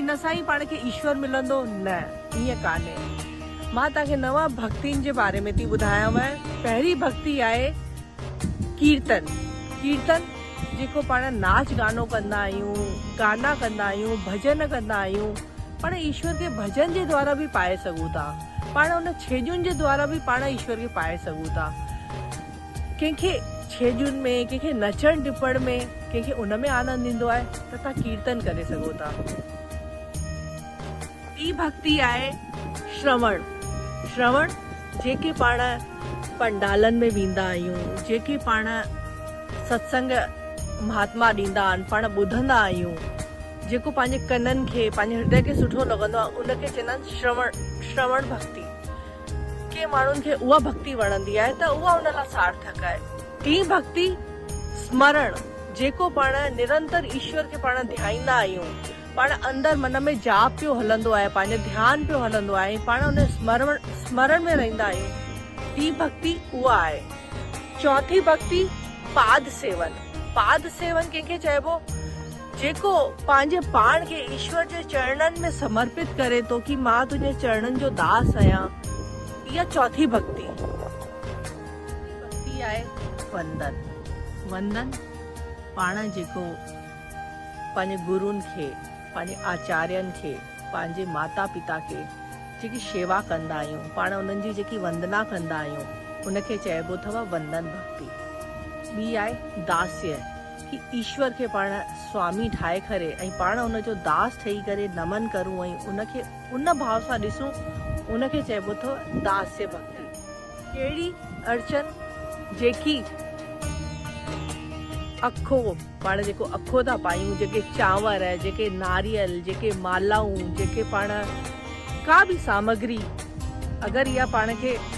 ان سان ئي پاڻ کي ايشور ملندو؟ نه، ائين ڪانهي. مان توهان کي نو ڀڳتين جي باري ۾ ٿي ٻڌايانء. پهرين ڀڳتي آهي ڪيرتن. ڪيرتن جيڪو پاڻ ناچ گانو ڪندا آهيون، گانا ڪندا آهيون، ڀڄن ڪندا آهيون. پاڻ ايشور کي ڀڄن جي دوارا به پائي سگهون ٿا. پاڻ ان ڇيڄن جي دوارا به پاڻ ايشور کي پائي سگهون ٿا. ڪنهن کي ڇيڄن ۾، ڪنهن کي نچڻ ٽپڻ ۾، ڪنهن کي ان ۾ آنند ايندو آهي ته توهان ڪيرتن ڪري سگهو ٿا. ٽين ڀڳتي آهي شروڻ، شروڻ جيڪي پاڻ پنڊالن ۾ ويندا آهيون، جيڪي پاڻ ستسنگ مهاتما ڏيندا آهن، پاڻ ٻڌندا آهيون، جيڪو پنهنجي ڪنن کي، پنهنجي هردي کي سٺو لڳندو آهي ان کي چوندا آهن شروڻ، شروڻ ڀڳتي. ڪي ماڻهن کي اها ڀڳتي وڻندي آهي ته اها ان لاء سارٿڪ آهي. ٽين ڀڳتي، سمرڻ، جيڪو پاڻ نرنتر ايشور کي پاڻ ڌيائيندا آهيون، پاڻ اندر من ۾ جاپ پيو هلندو آهي، پنهنجو ڌيان پيو هلندو آهي، پاڻ ان سمرڻ ۾ رهندا آهيون، ٽين ڀڳتي اها آهي. چوٿين ڀڳتي، پاد سيون، پاد سيون ڪنهن کي چئبو؟ جيڪو پنهنجي پاڻ کي ايشور جي چرڻن ۾ سمرپت ڪري ٿو ڪي مان تنهنجي چرڻن جو داس آهيان اها چوٿين ڀڳتي ڀڳتي آهي وندن وندن پاڻ جيڪو پنهنجي گرون کي پنهنجي آچارين کي پنهنجي ماتا پتا کي جيڪي شيوا ڪندا آهيون پاڻ انهن جي جيڪي وندنا ڪندا آهيون ان کي چئبو اٿو وندن ڀڳتي ٻي آهي داسيه. ڪي ايشور کي پاڻ سوامي ٺاهي ڪري ۽ پاڻ ان جو داس ٺهي ڪري نمن ڪرون ۽ ان کي ان ڀاو سان ڏسون ان کي چئبو اٿو داسيه ڀڳتي. ڪهڙي اڙچن جيڪي اکو پاڻ جيڪو اکو ٿا پايون جيڪي چانور جيڪي ناريل جيڪي مالائون جيڪي پاڻ ڪا به سامگري اگر اها پاڻ کي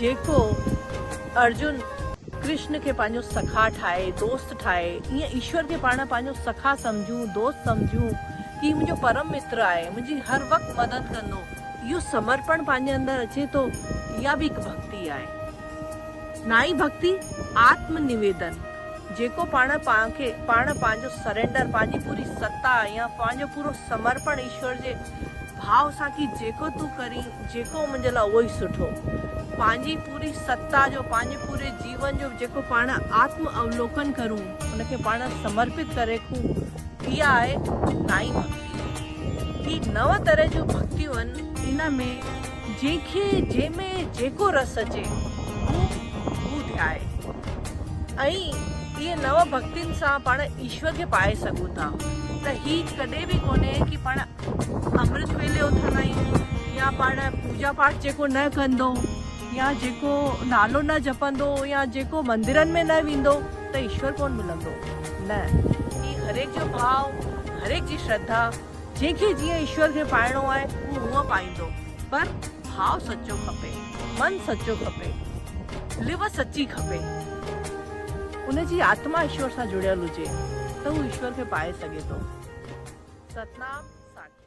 جيڪو ارجن ڪرشن کي پنهنجو سکا ٺاهي، دوست ٺاهي، ايئن ايشور کي پاڻ پنهنجو سکا سمجهون، دوست سمجهون، هي منهنجو پرم متر آهي، منهنجي هر وقت مدد ڪندو، اهو سمرپڻ پنهنجي اندر اچي ٿو، اها به هڪ ڀڳتي آهي. نائين ڀڳتي، آتم نويدن، جيڪو پاڻ پاڻ کي پاڻ پنهنجو سرينڊر، پنهنجي پوري ستا يا پنهنجو پورو سمرپڻ ايشور جي ڀاء سان ڪي جيڪو تون ڪرين، جيڪو منهنجي لاء اهو ئي سٺو. پنهنجي پوري ستا جو، پنهنجي پوري جيون جو جيڪو پاڻ آتم اولوڪن ڪرون، ان کي پاڻ سمرپت ڪري رکون، اها آهي نائين ڀڳتي. هي نو طرح جون ڀڳتيون آهن. ان ۾ جنهن کي جنهن ۾ جيڪو رس اچي، هو هو ڌيائي. ائين اهي نو ڀڳتين سان پاڻ ايشور کي پائي سگهون ٿا. ته هي ڪڏهن به ڪونهي ڪي پاڻ امرت ويلي اٿندا آهيون يا پاڻ پوڄا پاٺ جيڪو نه ڪندو يا جيڪو نالو نه جپندو يا جيڪو مندرن ۾ نه ويندو ته ايشور ڪونه ملندو نه هي هر هڪ جو ڀاو هر هڪ جي شرڌا جنهن کي جيئن ايشور کي پائڻو آهي هو هونئن پائيندو پر ڀاو سچو کپي من سچو کپي لوء سچي کپي. ان جي آتما ايشور سان جڙيل هجي ته هو ايشور کي پائي سگهي ٿو. ستنام ساکي.